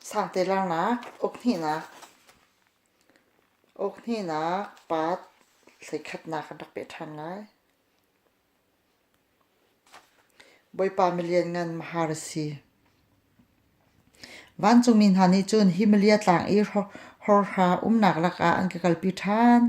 Sangtelangnak, ukhnih-nak, ukhnih-nak pat thleikhatnak an rak peh ṭhan ngai. Bawipa milianngan mahar a si. Vancungmi hna nih cun Himalia tlang i hawrha umnak lakah an ka kalpi ṭhan.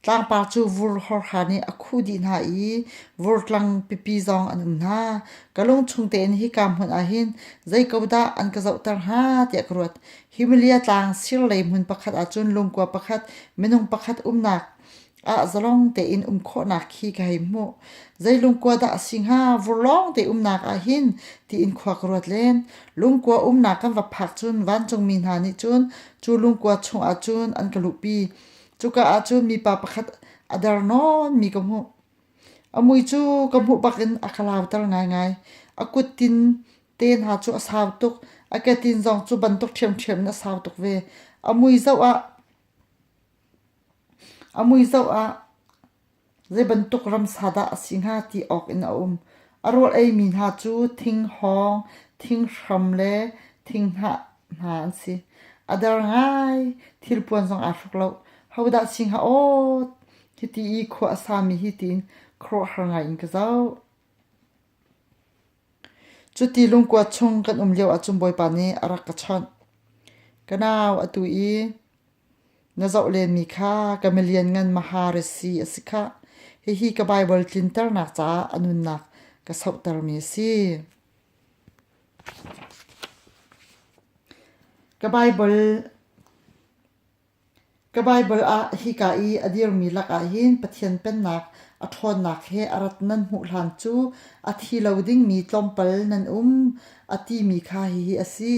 Tlangpar cu vur hawrha nih a khuh dih hna i vurtlang pipi zong an um hna. Ka lungchung tein hika hmun ah hin zei ko dah an ka zohter hnga tiah ka ruat. Himalia tlang sir lei hmun pakhat ah cun lungkua pakhat, minung pakhat umnak Ah zalong tein um khawhnak khi ka hei hmuh. Zei lungkua dah a si hnga? Vur lawng te umnak ahhin tiin khua ka ruat len. Lungkua umnak kan va phak cun vancungmi hna nih cun cu lungkua chungah cun an ka luhpi. Cuka ahcun mipa pakhat a der nawnmi ka hmuh. A mui cu ka hmuh bakin a ka lauter ngaingai. A kuttin te hna cu a sau tuk. A ketin zong cu bantuk ṭhiamṭhiam in a sau tuk ve. A mui zoh ah A mui zoh ah zeibantuk ramsa dah a si hnga ti awk in a um. A rawl eimi hna cu thing-hawng, thing-hram le thinghnah hna an si. A der ngai. Thilpuan zong aa hruk loh. Hodah si hnga aw hiti i khua a sami hi tiin khuaruahhar ngai in ka zoh. Cuti lungkua chung kan um lio ahcun Bawipa nih a rak ka chawnh. Ka nau atu i Na zoh lenmi kha ka milianngan mahar a si a si khah. Hihi ka Baibal tlinternak caah a nunnak ka sohtermi a si. Ka Baibal Ka Baibal ah hika i a dirmi lakah hin Pathian Pennak a ṭhawnnak he a rat nan hmuh hlan cu a thi lo dingmi tlawmpal nan um a timi kha hihi a si.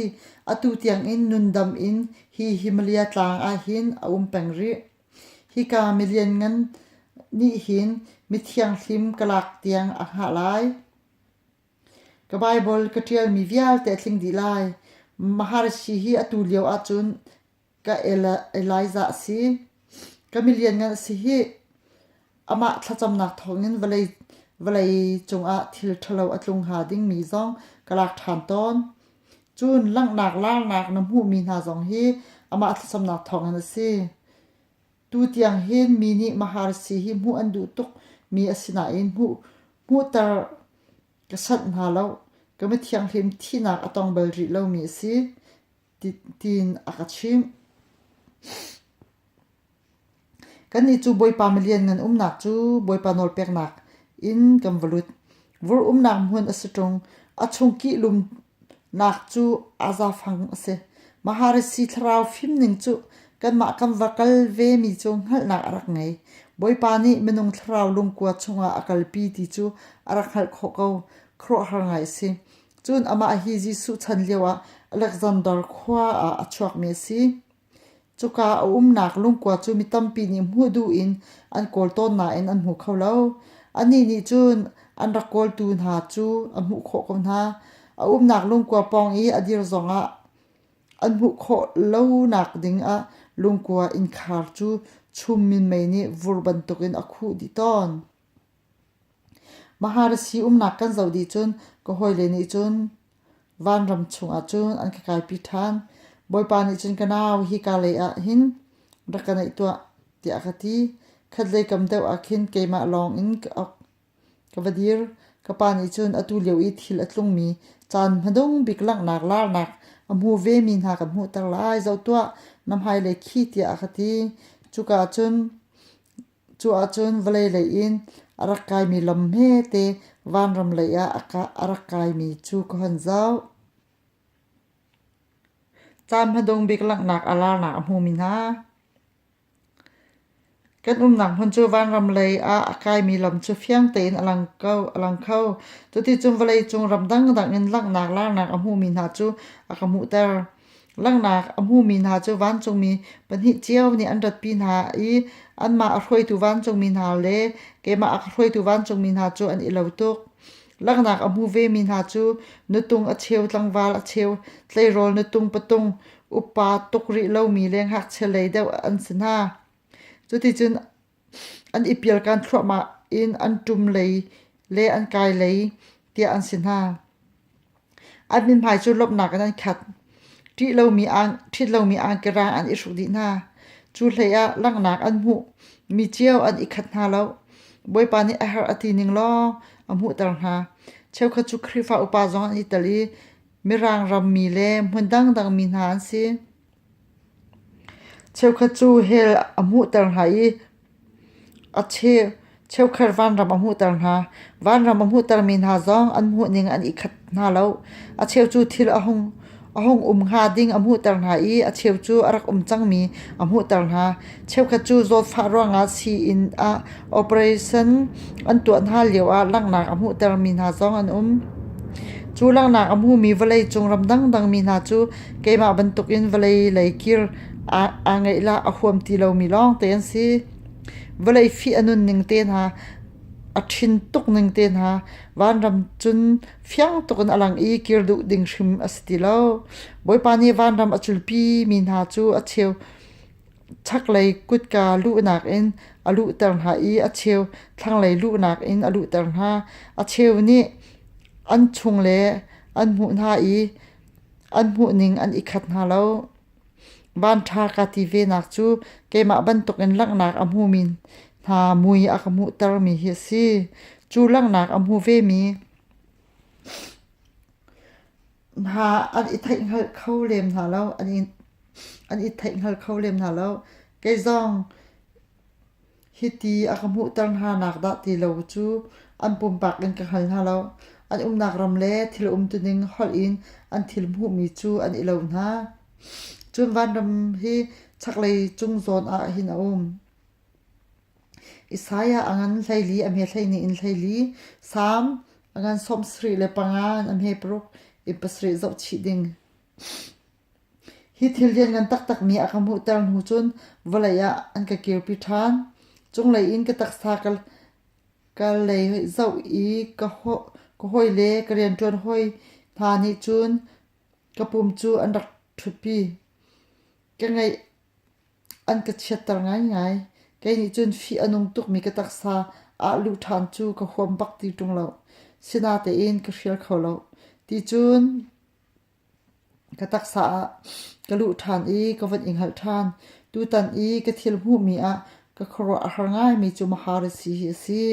Atu tiangin nundam in Hi Himalaya tlang ahhin a um peng rih. Hika milianngan nih hin mithianghlim ka lak tiang a hngah lai. Ka Baibal ka ṭialmi vialte a tling dih lai. Maharishi hi atu lio ahcun ka Elijah a si. Ka milianngan a si hih. Amah thlacamnak thawngin vawlei, vawlei cungah thil ṭhalo a tlung hnga dingmi zong ka lak ṭhan tawn. Cun langhnak larnak na hmuhmi hna zong hi amah thlacamnak thawngin a si. Tutiang hin mi nih maharsi hi hmuh an duh tukmi a si nain hmuh, hmuhter ka sanh hna lo. Ka mithianghlim thihnak a tong bal rih lomi a si. tiin a ka chimh. Kannih cu Bawipa milian ngan umnak cu Bawipa nawlpeknak in kan va lut. Vur umnak hmun a si ṭung. A chung kihlumnak cu azafang a si. Maharesi thlarau fim ning cu kanmah kan va kal vemi cu hngalhnak a rak ngei. Bawipa nih minung thlarau lungkua chungah a kalpi ti cu a rak hngalh khawh ko. Khuaruahhar ngai a si. Cun amah hi Jesuh chan lioah Alexander khua ah a chuakmi a si. Cuka a umnak lungkua cu mi tampi nih hmuh duh in an kawl tawn nain an hmu kho lo. Anih nih cun an rak kawltu hna cu a hmuh khawh ko hna. A umnak lungkua pawng i a dir zongah an hmuh khawh lonak ding ah lungkua innkhar cu chum minmei nih vur bantukin a khuh dih tawn. Maharasi umnak kan zoh dih cun ka hawile nih cun vanram chungah cun an ka kaipi ṭhan. Bawipa nih cun ka nau hi ka lei ah hin rak ka naih tuah tiah a ka ti. Khatlei kam deuh ah khin keimah lawng in ka va dir. Ka pa nih cun atu lio i thil a tlungmi caan hmadung bik langhnak larnak a hmu vemi hna ka hmuhter lai, zoh tuah na hmailei khi tiah a ka ti. Cuka ah cun Cuahcun vawlei lei in a rak kaimi lam hmete vanram lei ah a rak kaimi cu ka hun zoh. Caan hmadung bik langhnak a larnak a hmumi hna. Kan umnak hmun cu vanram lei ah a kaimi lam cu fiang tein a lang ko, a lang kho. Cuticun vawleicung ram dangdang in langhnak larnak a hmumi hna cu a ka hmuhter. Langhnak a hmumi hna cu vancungmi pahnih cio nih an ratpi hna i anmah a hruaitu vancungmi hna le keimah a hruaitu vancungmi hna cu an i lo tuk. Langhnak a hmu vemi hna cu na tung a cheu tlangval a cheu tleirawl na tung patung upa tuk rih lomi le ngakchia lei deuh an si hna. Cuticun An i pialkan thluahmah in an ṭum lei le an kai lei tiah an si hna. An mithmai cu lawmhnak in an khat. Ṭih lomi aan, ṭhit lomi angkera an i hruk dih hna. Cu hleiah langhnak an hmuh. Mi cio an i khat hna lo. Bawipa nih a har a ti ning lawng a hmuhter hna. Cheukhat cu Khrihfa upa zong an i tel i Mirang rammi le hmun dangdang mi hna an si. Cheukhat cu hell a hmuhter hna i a cheukhat vanram a hmuhter hna. Vanram a hmuhtermi hna zong an hmuhning an i khat hna lo. A cheu cu thil a hung um hnga ding a hmuhter hna i a cheu cu a rak um cangmi a hmuhter hna. Cheukhat cu zawtfah ruangah sii-inn ah operation an tuah hna lioah langhnak a hmuhtermi hna zong an um. Cu langhnak a hmumi vawleicung ram dangdangmi hna cu keimah bantukin vawlei lei kir aa ngeih le a huam ti lomi lawngte an si. Vawlei fih a nunning te hna, a thin tuk ning te hna, vanram cun fiang tukin a lang i kir duh ding hrim a si ti lo. Bawipa nih vanram a culpimi hna cu a cheu Chaklei kutka luhnak in a luhter hna i a cheu thlanglei luhnak in a luhter hna. A cheu nih an chung le an hmuh hna i an hmuhning an i khat hna lo. Vanṭha kaa ti venak cu keimah bantukin langhnak a hmumi hna mui a ka hmuhtermi hi a si. Cu langhnak a hmu vemi hna an i theihhngalh kho lem hna lo an i an i theihhngalh kho lem hna lo kei zong hiti a ka hmuhter hna nak dah ti lo cu an pumpak in ka hngal hna lo an umnak ram le thil um tuning holh in an thil hmuhmi cu an i lo hna cun vanram hi chaklei cung zawn ah hin a um Isaiah a ngan hleili a hme hleihnih in hleili, Salm a ngan sawmsarih le panga in a hme paruk i pasarih zohchih ding. Hi thil lianngan taktakmi a ka hmuhter hnu cun vawlei ah an ka kirpi ṭhan. Cunglei in ka taksa ka, ka lei zoh i ka, hawi, ka hawile, ka rianṭuan hawi hna nih cun ka pum cu an rak ṭhutpi. Ka ngeih An ka chiatter ngaingai. Kei nih cun fih a nung tukmi ka taksa ah luh ṭhan cu ka huam bak ti ṭung lo. Sinatein ka hrial kho lo. Ticun ka taksa ah ka luh ṭhan i ka von i hngalh ṭhan. Tutan i ka thil hmuhmi ah ka khuaruah a har ngaimi cu mahar a si hi a si.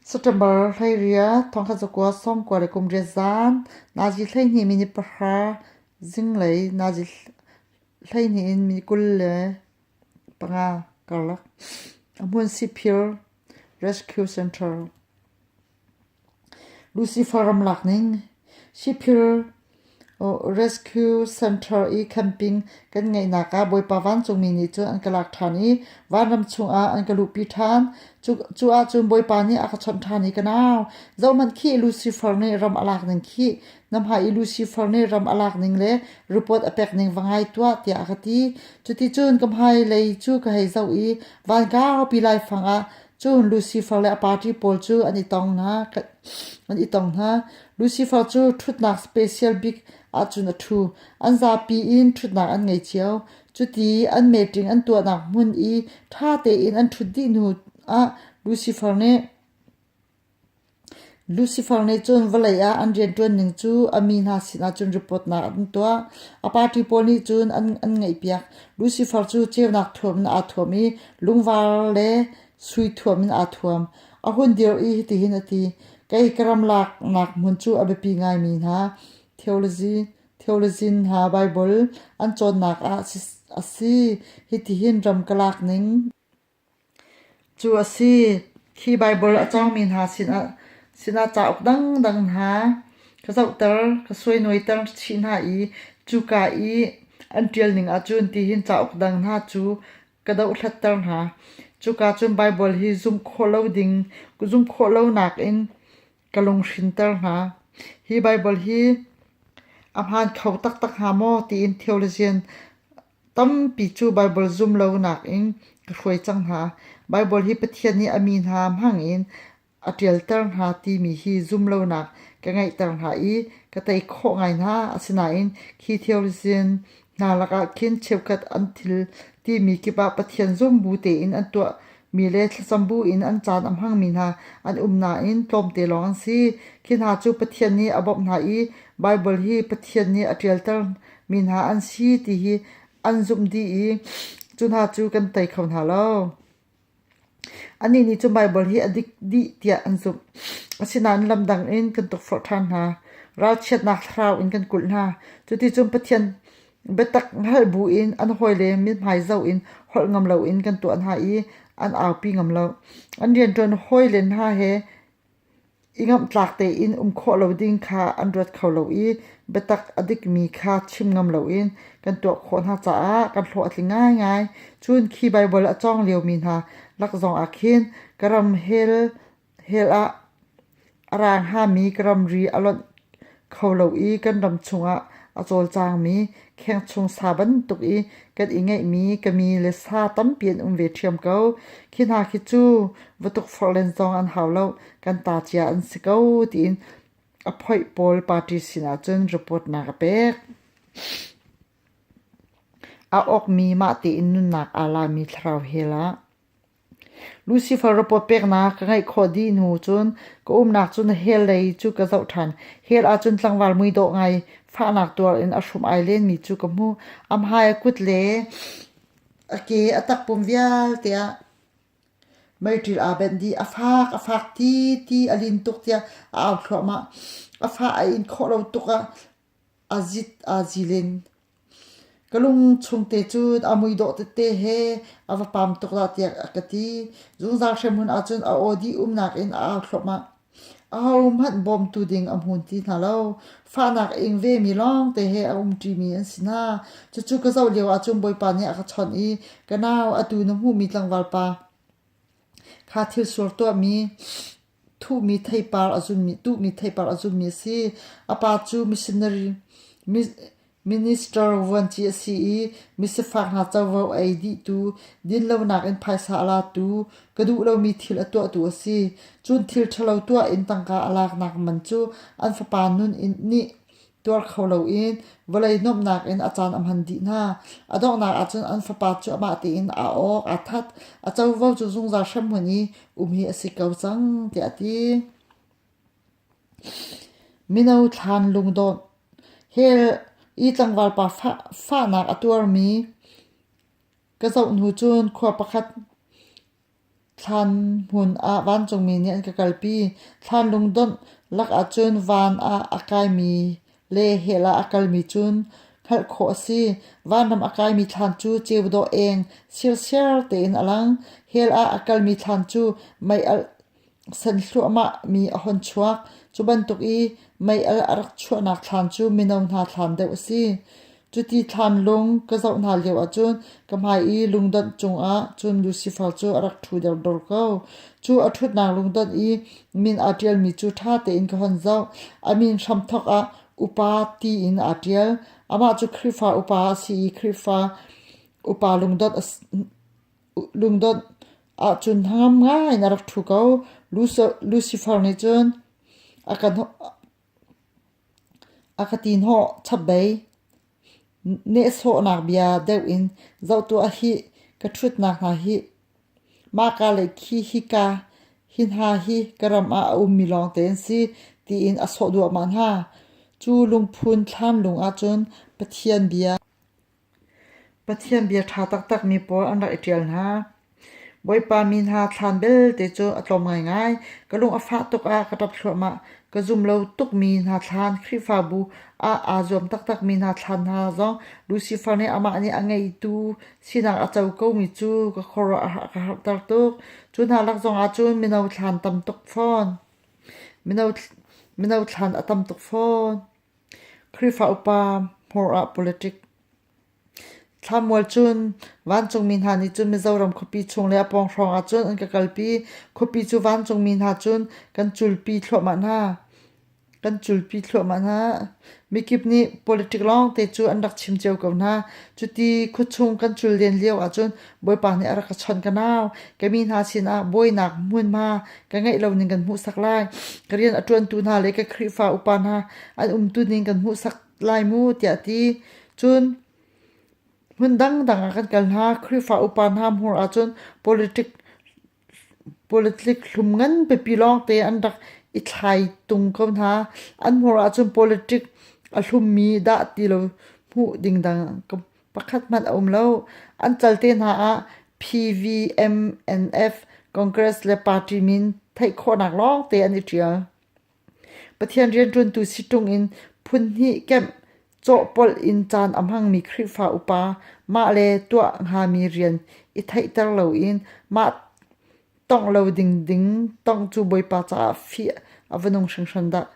September hleiriah thawngtha cakuat sawm kua le kum riat zaan Nazi hleihnih minit pahra zinglei Nazi hleihnih in minit kul le panga karlak a hmun siphir rescue center. Lucifer ramlak ning, Shiphir Rescue Center i camping kan ngeihnak ah Bawipa vancungmi nih cun an ka lak ṭhan i vanram chungah an ka luhpi ṭhan. Cu ahcun Bawipa nih a ka chawnh ṭhan i ka nau, zohhmanh khih, Lucifer nih ram a lak ning khih, na hmai i Lucifer nih ram a lak ning le ripawt a pek ning va ngai tuah, tiah a ka ti. Cuticun ka hmailei cu ka hei zoh i van kaupi laifang ah Cun Lucifer le a party pawl cu an i tong hna. An i tong hna. Lucifer cu ṭhutnak special bik ahcun a ṭhu. An zapi in ṭhutnak an ngei cio. Cuti an meṭing an tuahnak hmun i ṭha tein an ṭhut dih hnu ah Lucifer nih Lucifer nih cun vawlei ah an rianṭuan ning cu a mi hna sinah cun ripawtnak an tuah. A party pawl nih cun an ngaihpiak. Lucifer cu ceunak thuam in aa thuam i lungvar le sui thuam in aa thuam. A hun dir i hitihin a ti: Kei ka ram laknak hmun cu a biapi ngaimi hna theolazin hna Baibal an cawnnak ah a si. Hitihin ram ka lak ning. Cu a si. Khi Baibal a cawngmi hna sinah sinah cauk dangdang hna ka zohter, ka suainaweiter chih hna i cuka i an ṭialning ahcun tihin cauk dang hna cu ka dohhlatter hna. Cuka cun Baibal hi zumh khawh lo ding, zumh khawh lonak in ka lunghrinter hna. Hi Baibal hi a hmaan kho taktak hnga maw tiin theologian Tampi cu Baibal zum lonak in ka hruai cang hna. Baibal hi Pathian nih a mi hna hmangin a ṭialter hna timi hi zumlonak ka ngeihter hna i ka tei khawh ngai hna. Asinain khi theorizin hna lakah khin cheukhat an thil timi kip ah Pathian zung bu tein an tuah Mi le thlacam buin an caan a hmangmi hna an um nain tlawmte lawng an si. Khi hna cu Pathian nih a bawmh hna i Baibal hi Pathian nih a ṭialtermi hna an si ti hi an zumh dih i cu hna cu kan tei kho hna lo. Anih nih cun Baibal hi a dik dih tiah an zumh. Asinain lamdang in kan tukforh ṭhan hna. Ralchiatnak thlarau in kan kulh hna. Cuticun Pathian Biatak hngalh bu in an hawile mithmai zoh in holh ngam loin kan tuah hna i an aupi ngam lo. An rianṭuan hawile hna he i ngamhtlak tein um khawh lo ding kha an ruat kho lo i biatak a dikmi kha chim ngam loin kan tuah khawh hna caah kan hlawh a tling ngaingai. Cun khi Baibal a cawng liomi hna lak zongah khin ka ram hell Hell ah a rang hngami ka ramri a lonh kho lo i kan ram chungah a cawlcangmi khengchung sa bantuk i kan i ngeihmi ka mi le sa tampi an um ve ṭhiam ko. Khi hna khi cu va tukforh len zong an hau lo, kan ta cia an si ko, tiin a phoih pawl party sinah cun report-nak a pek. A awkmi mah tein nunnak aa lami thlarau hell ah Lucifer rapoot peknak ka ngeih khawh dih hnu cun ka umnak cu na hell lei cu ka zoh ṭhan. Hell ahcun tlangval muidawh ngai fahnak tuar in a hrum ai lenmi cu ka hmuh. A hmai, a kut le a ke a takpum vialte ah meiṭil aa benh dih. A fak, a fak ti ti, a lin tuk tiah a au thluahmah. A fah a in khawh lo tuk ah a zit aa zilin. Ka lung chungte cu a mui dawh tete he a va pam tuk dah tiah a ka ti. Zungzal hremhmun ahcun a aw dih umnak in a au thluahmah. Ahohmanh bawmtu ding a hmun ti hna lo. Fahnak a ing vemi lawngte he a um ṭimi an si hna. Cucu ka zoh lio ahcun Bawipa nih a ka chawnh i ka nau atu na hmuhmi tlangval pa kha thil sual tuahmi Thuhmi theipar a zummi a si. A pa cu minister vuanci a si i misifak hna covo a ei dihtu, dinlonak in phaisa a latu, ka duh lomi thil a tuahtu a si. Cun thil ṭhalo tuah in tangka a laknak man cu an fapa nih tuar kho loin vawlei nuamhnak in a caan a hman dih hna. A donghnak ahcun an fapa cu amah tein a awk aa that. A covo cu zungzal hremhmun i um hi a si ko cang tiah a ti. Mino thlan lungdawt hell i tlangval pa fahnak a tuarmi ka zohnu cun khua pakhat Thlan hmun ah vancungmi nih an ka kalpi, thlan lungdawnh lak ahcun van ah a kaimi le hell ah a kalmi cun hngalh khawh a si. Vanram a kaimi thlan cu ceu dawh eng, sirsiar tein a lang. Hell ah a kalmi thlan cu meialh. san hluahmah mi a hon chuak. Cu bantuk i meial a rak chuahnak thlam cu mino hna thlam deuh a si. Cuti thlam lung ka zoh hna lio ahcun ka hmai i lungdonh cungah cun Lucifer cu a rak ṭhu derdor ko. Cu a ṭhutnak lungdonh i min aa ṭialmi cu ṭha tein ka hon zoh. A min hramthawk ah Upa tiin aa ṭial. Amah cu Khrihfa upa a si i Khrihfa upa lungdonh a si. Lungdawt ahcun hnangam ngai na rak ṭhu ko. Lucifer nih cun a ka ti hnawh chap dei. Nehsawhnak bia deuh in zoh tuah hi ka ṭhutnak hna hi. Mah ka le khi hika hi hna hi ka ram ah a ummi lawngte an si tiin a sawh duahmah hna. Cu lungphun thlan lung ahcun Pathian bia. Pathian bia ṭha taktakmi pawl an rak i ṭial hna. Bawipa mi hna thlan belte cu a tlawm ngaingai. Ka lung a fah tuk ah ka ṭap thluahmah. Ka zum lo tukmi hna thlan, Khrihfabu ah aa zuam taktakmi hna thlan hna zong Lucifer nih amah nih a ngeitu sinak a co komi cu ka khuaruah a ka harhter tuk. Cu hna lak zongah cun mino thlan tam tuk fawn. Mino, mino thlan a tam tuk fawn. Khrihfa upa hmur ah politic. Thlamual cun vancungmi hna nih cun Mizoram khuapi chung le a pawng hrawng ah cun an ka kalpi. Khuapi cu vancungmi hna cun kan culpi thluahmah hna. Kan culpi thluahmah hna. Mikip nih politic lawngte cu an rak chim cio ko hna. Cuti khuachung kan cul len lio ahcun Bawipa nih a rak ka chawnh ka nau. Ka mi hna sinah buainak hmunhma ka ngeih lo ning kan hmuhsak lai. Ka rian a ṭuantu hna le ka Khrihfa upa hna an umtu ning kan hmuhsak lai mu tiah ti. Cun hmun dangdang ah kan kal hna. Khrihfa upa hna hmuh ahcun politic Politics hlum ngan biapi lawngte an rak i thlai tung ko hna. An hmuh ahcun politics a hlummi dah ti lo hmuh ding dang pakhat hmanh a um lo. An cal te hna ah PVMNF Congress le party min theih khawhnak lawngte an i ṭial. Pathian rianṭuantu si ṭungin phunhnih kemh cawhpolh in caan a hmangmi Khrihfa upa mahle tuah hngami rian i theihter loin mah tongh lo ding ding tongh cu Bawipa caah fih a va nung hringhran dah!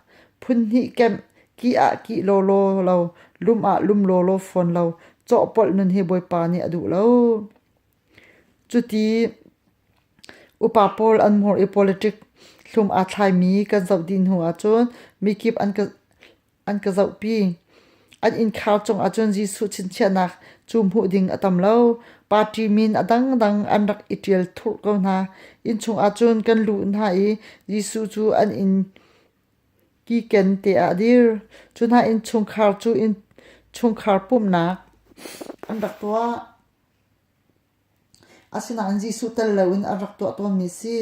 Phunhnih kemh kih ah kih lawlaw lo, lum ah lum lawlaw fawn lo cawhpolh nun hi Bawipa nih a duh lo. Cuti upa pawl an mur i politic hlum aa thlaimi kan zoh dih hnu ahcun mikip an ka zohpi. An innkhar cung ahcun Jesuh chinchiahnak cu hmuh ding a tam lo. Party min a dangdang an rak i ṭial thurh ko hna. Innchung ahcun kan luh hna i Jesuh cu an inn kiken te ah a dir. Cu hna in chungkhar cu innchungkhar pumhnak an rak tuah. Asinain Jesuh tel loin an rak tuah tawnmi a si.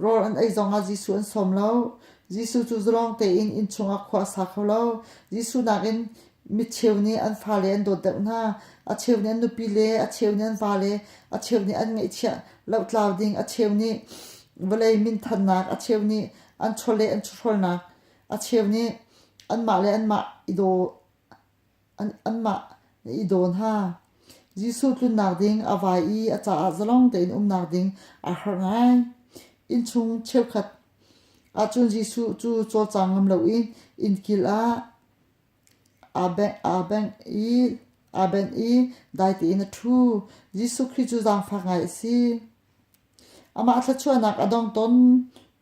Rawl an ei zongah Jesuh an sawm lo. Jesuh cu zalawng tein inn chungah khua a sa kho lo. Jesuh nakin micheu nih an fale an dawt deuh hna. A cheu nih an nupi le, a cheu nih an vale, a cheu nih an ngeihchiah lohtlau ding, a cheu nih vawlei minthannak, a cheu nih an chawleh an chawhrawlnak, a cheu nih anmah le anmah i daw anmah na i daw hna. Jesuh tlunnak ding a vai i a caah zalong tein umnak ding aa harh ngai. Innchung cheukhat ahcun Jesuh cu cawlcang ngam lo in innkil ah aa bengh, aa bengh i aa benh i dai tein a ṭhu. Jesuh Khrih cu zaangfak ngai a si. Amah thluachuahnak a dong ton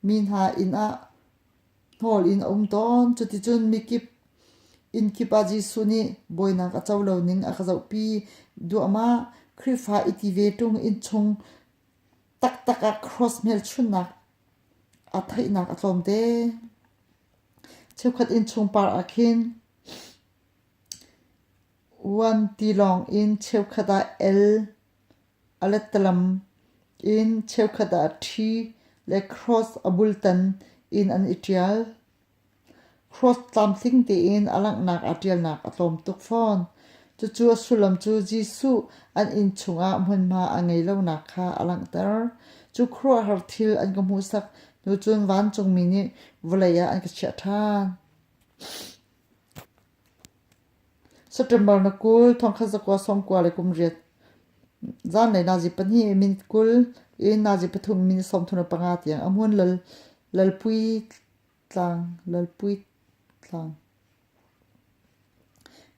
mi hna inn ah Hnawl in a um tawn. Cuticun mikip inn kip ah Jesuh nih bawinak a co lo ning a ka zohpi duahmah. Khrihfa i ti ve ṭung innchung taktak ah cross hmelchunhnak a theihnak a tlawmte. Cheukhat innchung par ah khin vuan tilawng in cheukhat ah el A lettalam in cheukhat ah ṭhi le cross a bultan in an i ṭial. Cross tlamtling tein a langhnak ah ṭialnak a tlawm tuk fawn. Cucu a sullam cu Jesuh an inn chungah hmunhma a ngei lonak kha a langhter. Cu khuaruahhar thil an ka hmuhsak hnu cun vancungmi nih vawlei ah an ka chiah ṭhan. September na kul, thongkhat zakua, sawmkua le kum riat. Zan le nazi pahnih min kul, in nazi pathum min sawmthun a panga tiang. Amuan lal, lalpui tlang, lalpui tlang.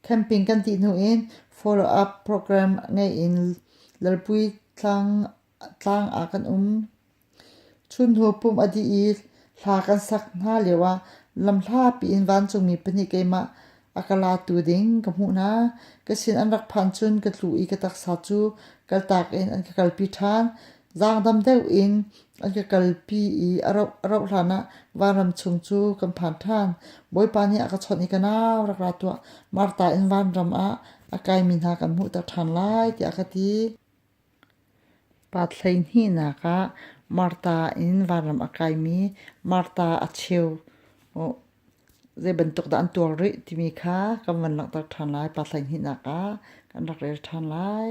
Camping kan ti hnu in follow-up program ngei in lalpui tlang, tlang ah kan um. Chunhnu pumh a dih i hla kan sak hna lioah lam hlapi in vancungmi pahnih keimah a ka latu ding ka hmuh hna. Ka sin an rak phan cun ka tlu i ka taksa cu kaltak in an ka kalpi ṭhan. Zaangdam deuh in an ka kalpi i a rauh, a rauh hlanah vanram chung cu kan phan ṭhan. Bawipa nih a ka chawnh i ka nau rak ra tuah, Martha in vanram ah a kaimi hna kan hmuhter ṭhan lai tiah a ka ti. Pa hleihnihnak ah Martha in vanram a kaimi Martha a cheu zeibantuk dah an tuar rih timi kha kan van langhter ṭhan lai. Pa hleihnihnak ah kan rak rel ṭhan lai.